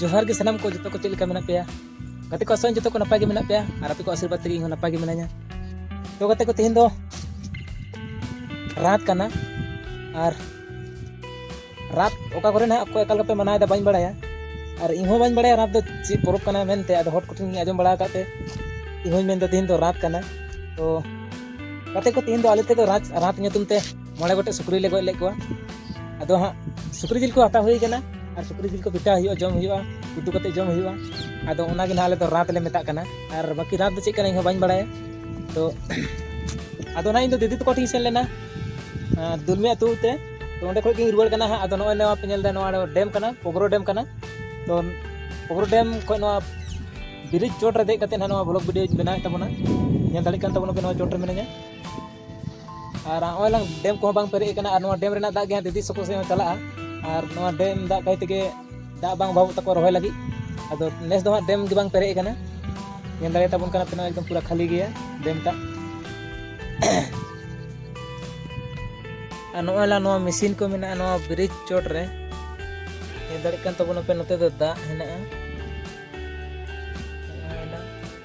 ᱡᱚᱦᱟᱨ ᱜᱮ ᱥᱟᱱᱟᱢ ᱠᱚ ᱡᱚᱛᱚ ᱠᱚ ᱪᱮᱫ ᱞᱮᱠᱟ ᱢᱮᱱᱟᱜ ᱯᱮᱭᱟ ᱜᱟᱛᱮ ᱠᱚ ᱟᱥᱚᱜ ᱡᱚᱛᱚ ᱠᱚ ᱱᱟᱯᱟᱭ ᱜᱮ ᱢᱮᱱᱟᱜ ᱯᱮᱭᱟ ᱟᱨ ᱟᱯᱮ ᱠᱚ ᱟᱥᱤᱨᱵᱟᱫᱽ ᱛᱮᱜᱮ ᱤᱧ ᱦᱚᱸ ᱱᱟᱯᱟᱭ ᱜᱮ ᱢᱤᱱᱟᱹᱧᱟ ᱛᱚ ᱜᱟᱛᱮ ᱠᱚ ᱛᱮᱦᱮᱧ ᱫᱚ ᱨᱟᱛ ᱠᱟᱱᱟ ᱟᱨ ᱨᱟᱛ ᱚᱠᱟ ᱠᱚᱨᱮ ᱱᱟᱦᱟᱜ ᱚᱠᱚᱭ ᱚᱠᱟ ᱞᱮᱠᱟ ᱯᱮ ᱢᱟᱱᱟᱣᱮᱫᱟ ᱵᱟᱹᱧ ᱵᱟᱲᱟᱭᱟ ᱟᱨ ᱤᱧ ᱦᱚᱸ ᱵᱟᱹᱧ ᱵᱟᱲᱟᱭᱟ ᱨᱟᱛ ᱫᱚ ᱪᱮᱫ ᱯᱚᱨᱚᱵᱽ ᱠᱟᱱᱟ ᱢᱮᱱᱛᱮ ᱟᱫᱚ ᱦᱚᱲ ᱠᱚᱴᱷᱮᱱ ᱤᱧ ᱟᱸᱡᱚᱢ ᱵᱟᱲᱟ ᱟᱠᱟᱫ ᱛᱮ ᱤᱧ ᱦᱚᱸᱧ ᱢᱮᱱᱫᱟ ᱛᱮᱦᱮᱧ ᱫᱚ ᱨᱟᱛ ᱠᱟᱱᱟ ᱛᱚ ᱜᱟᱛᱮ ᱠᱚ ᱛᱮᱦᱮᱧ ᱫᱚ ᱟᱞᱮ ᱛᱮᱫᱚ ᱨᱟᱛ ᱨᱟᱛ ᱧᱩᱛᱩᱢ ᱛᱮ ᱢᱚᱬᱮ ᱜᱚᱴᱮᱡ ᱥᱩᱠᱨᱤ ᱞᱮ ᱜᱚᱡ ᱞᱮᱫ ᱠᱚᱣᱟ ᱟᱫᱚ ᱦᱟᱸᱜ ᱥᱩᱠᱨᱤ ᱡᱤᱞ ᱠᱚ ᱦᱟᱛᱟᱣ ᱦᱩᱭ ᱠᱟᱱᱟ ᱟᱨ ᱥᱩᱠᱨᱤ ᱡᱤᱞ ᱠᱚ ᱯᱤᱴᱷᱟᱹ ᱦᱩᱭᱩᱜᱼᱟ ᱡᱚᱢ ᱦᱩᱭᱩᱜᱼᱟ ᱩᱛᱩ ᱠᱟᱛᱮ ᱡᱚᱢ ᱦᱩᱭᱩᱜᱼᱟ ᱟᱫᱚ ᱚᱱᱟᱜᱮ ᱱᱟᱦᱟᱜ ᱟᱞᱮ ᱫᱚ ᱨᱟᱛ ᱞᱮ ᱢᱮᱛᱟᱜ ᱠᱟᱱᱟ ᱟᱨ ᱵᱟᱹᱠᱤ ᱨᱟᱛ ᱫᱚ ᱪᱮᱫ ᱠᱟᱱᱟ ᱤᱧ ᱦᱚᱸ ᱵᱟᱹᱧ ᱵᱟᱲᱟᱭᱟ ᱛᱚ ᱟᱫᱚ ᱱᱟᱦᱟᱜ ᱤᱧ ᱫᱚ ᱫᱤᱫᱤ ᱛᱟᱠᱚ ᱴᱷᱮᱱ ᱥᱮᱱ ᱞᱮᱱᱟ ᱫᱩᱞᱢᱤ ᱟᱹᱛᱩ ᱛᱮ ᱛᱚ ᱚᱸᱰᱮ ᱠᱷᱚᱱ ᱜᱤᱧ ᱨᱩᱣᱟᱹᱲ ᱠᱟᱱᱟ ᱦᱟᱸᱜ ᱟᱫᱚ ᱱᱚᱜᱼᱚᱭ ᱱᱚᱣᱟ ᱯᱮ ᱧᱮᱞ ᱮᱫᱟ ᱱᱚᱣᱟ ᱰᱮᱢ ᱠᱟᱱᱟ ᱯᱚᱜᱨᱚ ᱰᱮᱢ ᱠᱟᱱᱟ ᱛᱚ ᱯᱚᱜᱨᱚ ᱰᱮᱢ ᱠᱷᱚᱱ ᱱᱚᱣᱟ ᱵᱨᱤᱡᱽ ᱪᱚᱴ ᱨᱮ ᱫᱮᱡ ᱠᱟᱛᱮ ᱱᱟᱦᱟᱜ ᱱᱚᱣᱟ ᱵᱞᱚᱜ ᱵᱷᱤᱰᱤᱭᱳᱧ ᱵᱮᱱᱟᱣᱮᱫ ᱛᱟᱵᱚᱱᱟ ᱧᱮᱞ ᱫᱟᱲᱮᱭᱟᱜ ᱠᱟᱱ ᱛᱟᱵᱚᱱᱟᱯᱮ ᱱᱚᱣᱟ ᱪᱚᱴ ᱨᱮ ᱢᱤᱱᱟᱹᱧᱟ ᱟᱨ ᱱᱚᱜᱼᱚᱭ ᱞᱟᱝ ᱰᱮᱢ ᱠᱚᱦᱚᱸ ᱵᱟᱝ ᱯᱮᱨᱮᱡ ᱟᱠᱟᱱᱟ ᱟᱨ ᱱᱚᱣᱟ ᱰᱮᱢ ᱨᱮᱱᱟᱜ ᱫᱟᱜ ᱜᱮ ᱦᱟᱸᱜ ᱫᱤᱫᱤ ᱥᱚᱠᱚ ᱥᱮᱫ ᱦᱚᱸ ᱪᱟᱞᱟᱜᱼᱟ ᱟᱨ ᱱᱚᱣᱟ ᱰᱮᱢ ᱫᱟᱜ ᱠᱟᱭ ᱛᱮᱜᱮ ᱫᱟᱜ ᱵᱟᱝ ᱚᱵᱷᱟᱵᱚᱜ ᱛᱟᱠᱚ ᱨᱚᱦᱚᱭ ᱞᱟᱹᱜᱤᱫ ᱟᱫᱚ ᱱᱮᱥ ᱫᱚ ᱦᱟᱸᱜ ᱰᱮᱢ ᱜᱮ ᱵᱟᱝ ᱯᱮᱨᱮᱡ ᱟᱠᱟᱱᱟ ᱧᱮᱞ ᱫᱟᱲᱮ ᱛᱟᱵᱚᱱ ᱠᱟᱱᱟ ᱛᱤᱱᱟᱹᱜ ᱮᱠᱫᱚᱢ ᱯᱩᱨᱟᱹ ᱠᱷᱟᱹᱞᱤ ᱜᱮᱭᱟ ᱰᱮᱢ ᱴᱟᱜ ᱟᱨ ᱱᱚᱜᱼᱚᱭ ᱞᱟ ᱱᱚᱣᱟ ᱢᱮᱥᱤᱱ ᱠᱚ ᱢᱮᱱᱟᱜᱼᱟ ᱱᱚᱣᱟ ᱵᱨᱤᱡᱽ ᱪᱚᱴ ᱨᱮ ᱧᱮᱞ ᱫᱟᱲᱮᱜ ᱠᱟᱱ ᱛᱟᱵᱚᱱᱟᱯᱮ ᱱᱚᱛᱮ ᱫᱚ ᱫᱟᱜ ᱦᱮᱱᱟᱜᱼᱟ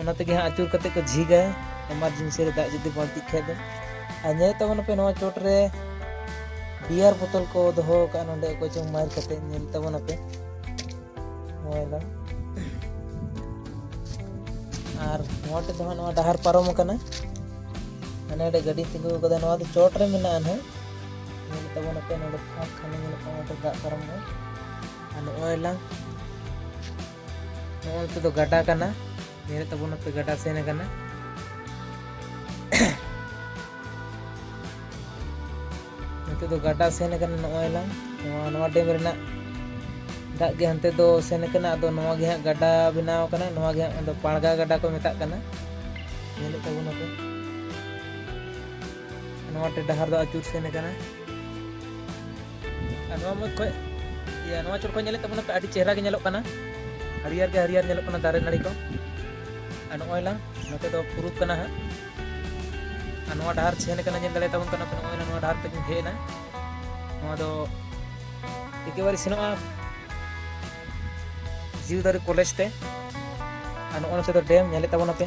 ᱚᱱᱟ ᱛᱮᱜᱮ ᱦᱟᱸᱜ ᱟᱹᱪᱩᱨ ᱠᱟᱛᱮ ᱠᱚ ᱡᱷᱤᱜᱟ ᱮᱢᱟᱨᱡᱮᱱᱥᱤ ᱨᱮ ᱫᱟᱜ ᱡᱩᱫᱤ ᱵᱟᱹᱲᱛᱤᱜ ᱠᱷᱟᱡ ᱫᱚ ᱟᱨ ᱧᱮᱞ ᱛᱟᱵᱚᱱ ᱯᱮ ᱱᱚᱣᱟ ᱪᱚᱴ ᱨᱮ ᱵᱤᱭᱟᱨ ᱵᱳᱛᱚᱞ ᱠᱚ ᱫᱚᱦᱚ ᱟᱠᱟᱫᱼᱟ ᱱᱚᱰᱮ ᱚᱠᱚᱭ ᱪᱚᱝ ᱢᱟᱨ ᱠᱟᱛᱮ ᱧᱮᱞ ᱛᱟᱵᱚᱱ ᱯᱮ ᱱᱚᱣᱟ ᱟᱨ ᱱᱚᱣᱟ ᱴᱷᱮᱱ ᱫᱚ ᱦᱟᱸᱜ ᱱᱚᱣᱟ ᱰᱟᱦᱟᱨ ᱯᱟᱨᱚᱢ ᱟᱠᱟᱱᱟ ᱦᱟᱱᱮ ᱨᱮ ᱜᱟᱹᱰᱤ ᱛᱤᱸᱜᱩ ᱟᱠᱟᱫᱟ ᱱᱚᱣᱟ ᱫᱚ ᱪᱚᱴ ᱨᱮ ᱢᱮᱱᱟᱜᱼᱟ ᱱᱟᱦᱟᱜ ᱧᱮᱞ ᱛᱟᱵᱚᱱ ᱯᱮ ᱱᱚᱰᱮ ᱯᱷᱟᱸᱠ ᱠᱷᱟᱱ ᱧᱮᱞᱚᱜ ᱠᱟᱱᱟ ᱫᱟᱜ ᱯᱟᱨᱚᱢᱚᱜᱼᱟ ᱟᱨ ᱱᱚᱜᱼᱚᱭ ᱞᱟᱝ ᱱᱚᱣᱟ ᱱᱚᱛᱮ ᱫᱚ ᱜᱟᱰᱟ ᱠᱟᱱᱟ ᱧᱮᱞ ᱛᱟᱵᱚᱱ ᱱᱚᱛᱮ ᱜᱟᱰᱟ ᱥᱮᱱ ᱟᱠᱟᱱᱟ ᱱᱚᱛᱮ ᱫᱚ ᱜᱟᱰᱟ ᱥᱮᱱ ᱟᱠᱟᱱᱟ ᱱᱚᱜᱼᱚᱭ ᱞᱟᱝ ᱱᱚᱣᱟ ᱱᱚᱣᱟ ᱰᱮᱢ ᱨᱮᱱᱟᱜ ᱫᱟᱜ ᱜᱮ ᱦᱟᱱᱛᱮ ᱫᱚ ᱥᱮᱱ ᱟᱠᱟᱱᱟ ᱟᱫᱚ ᱱᱚᱣᱟ ᱜᱮ ᱦᱟᱸᱜ ᱜᱟᱰᱟ ᱵᱮᱱᱟᱣ ᱟᱠᱟᱱᱟ ᱱᱚᱣᱟ ᱜᱮ ᱦᱟᱸᱜ ᱯᱟᱲᱜᱟ ᱜᱟᱰᱟ ᱠᱚ ᱢᱮᱛᱟᱜ ᱠᱟᱱᱟ ᱧᱮᱞᱮᱫ ᱛᱟᱵᱚᱱᱟᱯᱮ ᱱᱚᱣᱟ ᱴᱮ ᱰᱟᱦᱟᱨ ᱫᱚ ᱟᱹᱪᱩᱨ ᱥᱮᱱ ᱟᱠᱟᱱᱟ ᱱᱚᱣᱟ ᱢᱩᱫᱽ ᱠᱷᱚᱡ ᱤᱭᱟᱹ ᱱᱚᱣᱟ ᱪᱚᱨ ᱠᱷᱚᱡ ᱧᱮᱞᱮᱫ ᱛᱟᱵᱚᱱᱟ ᱯᱮ ᱟᱹᱰᱤ ᱪᱮᱦᱨᱟ ᱜᱮ ᱧᱮᱞᱚᱜ ᱠᱟᱱᱟ ᱦᱟᱹᱨᱭᱟᱹᱲ ᱜᱮ ᱦᱟᱹᱨᱭᱟᱹᱲ ᱧᱮᱞᱚᱜ ᱠᱟᱱᱟ ᱫᱟᱨᱮ ᱱᱟᱹᱲᱤ ᱠᱚ ᱟᱨ ᱱᱚᱜᱼᱚᱭ ᱞᱟᱝ ᱱᱚᱛᱮ ᱫᱚ ᱯᱩᱨᱩᱵ ᱠᱟᱱᱟ ᱦᱟᱸᱜ ᱟᱨ ᱱᱚᱣᱟ ᱰᱟᱦᱟᱨ ᱥᱮᱱ ᱠᱟᱱᱟ ᱧᱮᱞ ᱫᱟᱲᱮ ᱛᱟᱵᱚᱱ ᱠᱟᱱᱟ ᱯᱮ ᱱᱚᱜᱼᱚᱭ ᱱᱚᱣᱟ ᱰᱟᱦᱟᱨ ᱛᱮᱜᱮ ᱦᱮᱡ ᱮᱱᱟ ᱱᱚᱣᱟ ᱫᱚ ᱮᱠᱮᱵᱟᱨᱮ ᱥᱮᱱᱚᱜᱼᱟ ᱡᱤᱣᱤᱫᱟᱨᱤ ᱠᱚᱞᱮᱡᱽ ᱛᱮ ᱟᱨ ᱱᱚᱜᱼᱚᱭ ᱱᱚᱛᱮ ᱫᱚ ᱰᱮᱢ ᱧᱮᱞᱮᱫ ᱛᱟᱵᱚᱱᱟ ᱯᱮ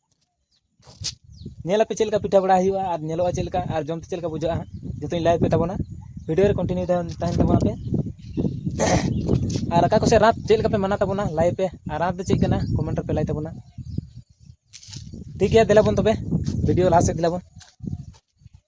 ᱧᱮᱞ ᱟᱯᱮ ᱪᱮᱫ ᱞᱮᱠᱟ ᱯᱤᱴᱷᱟᱹ ᱵᱟᱲᱟ ᱦᱩᱭᱩᱜᱼᱟ ᱟᱨ ᱧᱮᱞᱚᱜᱼᱟ ᱪᱮᱫ ᱞᱮᱠᱟ ᱟᱨ ᱡᱚᱢ ᱛᱮ ᱪᱮᱫ ᱞᱮᱠᱟ ᱵᱩᱡᱷᱟᱹᱜᱼᱟ ᱦᱟᱸᱜ ᱡᱚᱛᱚᱧ ᱞᱟᱹᱭ ᱟᱯᱮ ᱛᱟᱵᱚᱱᱟ ᱵᱷᱤᱰᱤᱭᱳ ᱨᱮ ᱠᱚᱱᱴᱤᱱᱤᱭᱩ ᱛᱟᱦᱮᱱ ᱛᱟᱵᱚᱱ ᱯᱮ ᱟᱨ ᱚᱠᱟ ᱠᱚᱥᱮᱡ ᱨᱟᱛ ᱪᱮᱫ ᱞᱮᱠᱟ ᱯᱮ ᱢᱟᱱᱟᱣ ᱛᱟᱵᱚᱱᱟ ᱞᱟᱹᱭ ᱯᱮ ᱟᱨ ᱨᱟᱛ ᱫᱚ ᱪᱮᱫ ᱠᱟᱱᱟ ᱠᱚᱢᱮᱱᱴ ᱨᱮᱯᱮ ᱞᱟᱹᱭ ᱛᱟᱵᱚᱱᱟ ᱴᱷᱤᱠ ᱜᱮᱭᱟ ᱫᱮᱞᱟ ᱵᱚᱱ ᱛᱚᱵᱮ ᱵᱷᱤᱰᱤᱭᱳ ᱞᱟᱦᱟ ᱥᱮᱫ ᱫᱮᱞᱟ ᱵᱚᱱ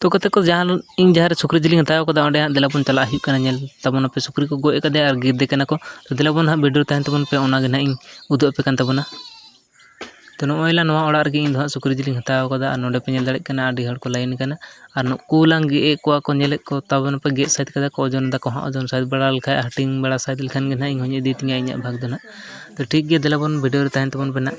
ᱛᱳ ᱜᱟᱛᱮ ᱠᱚ ᱡᱟᱦᱟᱸ ᱤᱧ ᱡᱟᱦᱟᱸ ᱨᱮ ᱥᱩᱠᱨᱤ ᱡᱤᱞᱤᱧ ᱦᱟᱛᱟᱣ ᱠᱟᱫᱟ ᱚᱸᱰᱮ ᱦᱟᱸᱜ ᱫᱮᱞᱟ ᱵᱚᱱ ᱪᱟᱞᱟᱜ ᱦᱩᱭᱩᱜ ᱠᱟᱱᱟ ᱧᱮᱞ ᱛᱟᱵᱚᱱ ᱯᱮ ᱥᱩᱠᱨᱤ ᱠᱚ ᱜᱚᱡ ᱠᱟᱫᱮᱭᱟ ᱟᱨ ᱜᱮᱫᱮ ᱠᱟᱱᱟ ᱠᱚ ᱫᱮᱞᱟ ᱵᱚᱱ ᱦᱟᱸᱜ ᱵᱷᱤᱰᱤᱭᱳ ᱨᱮ ᱛᱟᱦᱮᱱ ᱛᱟᱵᱚᱱ ᱯᱮ ᱚᱱᱟᱜᱮ ᱦᱟᱸᱜ ᱤᱧ ᱩᱫᱩᱜ ᱟᱯᱮ ᱠᱟᱱ ᱛᱟᱵᱚᱱᱟ ᱛᱳ ᱱᱚᱜᱼᱚᱭ ᱞᱟᱝ ᱱᱚᱣᱟ ᱚᱲᱟᱜ ᱨᱮᱜᱮ ᱤᱧ ᱫᱚ ᱦᱟᱸᱜ ᱥᱩᱠᱨᱤ ᱡᱤᱞᱤᱧ ᱦᱟᱛᱟᱣ ᱠᱟᱫᱟ ᱟᱨ ᱱᱚᱰᱮ ᱯᱮ ᱧᱮᱞ ᱫᱟᱲᱮᱭᱟᱜ ᱠᱟᱱᱟ ᱟᱹᱰᱤ ᱦᱚᱲ ᱠᱚ ᱞᱟᱭᱤᱱ ᱠᱟᱱᱟ ᱟᱨ ᱱᱩᱠᱩ ᱞᱟᱝ ᱜᱮᱫ ᱮᱜ ᱠᱚᱣᱟ ᱠᱚ ᱧᱮᱞᱮᱫ ᱠᱚ ᱛᱟᱵᱚᱱ ᱯᱮ ᱜᱮᱫ ᱥᱟᱹᱛ ᱠᱟᱫᱟ ᱠᱚ ᱳᱡᱚᱱ ᱫᱟᱠᱚ ᱦᱟᱸᱜ ᱳᱡᱚᱱ ᱥᱟᱹᱛ ᱵᱟᱲᱟ ᱞᱮᱠᱷᱟᱡ ᱦᱟᱹᱴᱤᱧ ᱵᱟᱲᱟ ᱥᱟᱹᱛ ᱞᱮᱠᱷᱟᱱ ᱜᱮ ᱦᱟᱸᱜ ᱤᱧ ᱦᱚᱸᱧ ᱤᱫᱤ ᱛᱤᱧᱟ ᱤᱧᱟᱹᱜ ᱵᱷᱟᱜᱽ ᱫᱚ ᱦᱟᱸᱜ ᱛᱳ ᱴᱷᱤᱠ ᱜᱮᱭᱟ ᱫᱮᱞᱟ ᱵᱚᱱ ᱵᱷᱤᱰᱤᱭᱳ ᱨᱮ ᱛᱟᱦᱮᱱ ᱛᱟᱵᱚᱱ ᱯᱮ ᱦᱟᱸᱜ